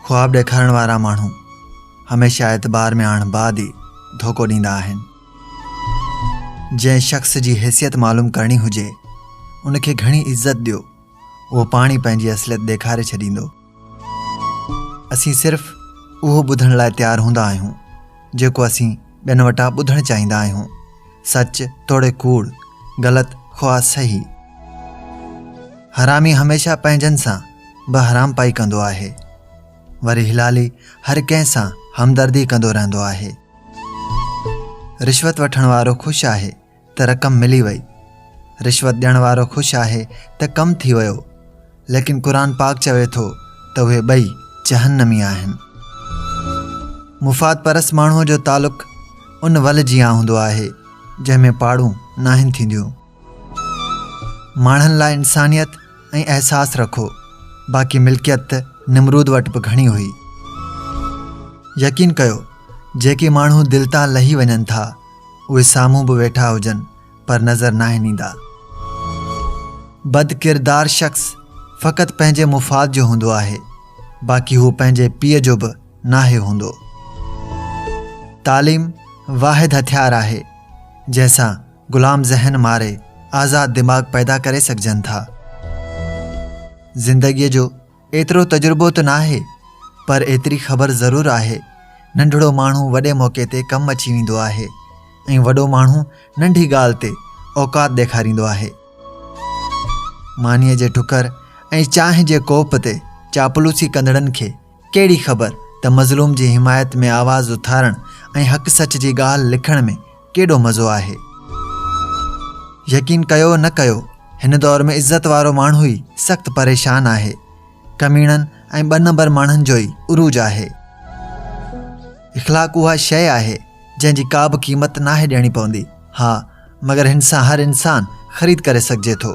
خواب ڏيکارڻ وارا ماڻهو هميشه اعتبار ۾ آڻڻ بعد ئي ڌوڪو ڏيندا آهن جنهن شخص جي حيثيت معلوم ڪرڻي هجي ان کي گهڻي عزت ڏيو اهو پاڻ ئي پنهنجي اصليت ڏيکاري ڇڏيندو اسين صرف اهو ٻڌڻ لاء تيار هوندا آهيون جيڪو اسين ٻين وٽان ٻڌڻ چاهيندا آهيون. سچ توڙي ڪوڙ، غلط خواه صحيح. حرامي هميشه پنهنجن سان به حرامپائي ڪندو آهي. وري هلالي هر ڪنهن سان همدردي ڪندو رهندو آهي. رشوت وٺڻ وارو خوش آهي ته رقم ملي وئي رشوت ڏيڻ وارو خوش آهي ته ڪم ٿي ويو ليڪن قرآن پاڪ چوي ٿو ته اهي ٻئي جهنمي آهن مفاد پرس ماڻهو جو تعلق ان ول جيان هوندو آهي جنهن ۾ پاڙون ناهن ٿينديون ماڻهن لاء انسانيت ۽ احساس رکو باقي ملڪيت ته نمرود وٽ به گهڻي هئي يقين ڪيو جيڪي ماڻهو دل تان لهي وڃن ٿا اهي سامهون به ويٺا هجن پر نظر ناهن ايندا. بد ڪردار شخص فقط پنهنجي مفاد جو هوندو آهي باقي هو پنهنجي پيء جو به ناهي هوندو. تعليم واحد هٿيار آهي جنهن سان غلام ذهن ماري آزاد دماغ پيدا ڪري سگهجن ٿا. زندگيء جو ايترو تجربو ته ناهي پر ايتري خبر ضرور آهي ننڍڙو ماڻهو وڏي موقعي تي ڪم اچي ويندو آهي ۽ وڏو ماڻهو ننڍي ڳالهه تي اوقات ڏيکاريندو آهي. مانيء جي ٽڪر ۽ چانهه جي ڪوپ تي چاپلوسي ڪندڙن کي ڪهڙي خبر ته مظلوم جي حمايت ۾ آواز اٿارڻ ۽ حق سچ جي ڳالهه لکڻ ۾ ڪيڏو مزو آهي. يقين ڪيو نه ڪيو هن دور ۾ عزت وارو ماڻهو ئي سخت پريشان آهي ڪميڻن ۽ ٻه نمبر ماڻهن جو ئي عروج آهي اخلاق اها شيء آهي جنهن جي ڪابه قيمت ناهي ڏيڻي پوندي ها مگر هن سان هر انسان خريد ڪري سگهجي ٿو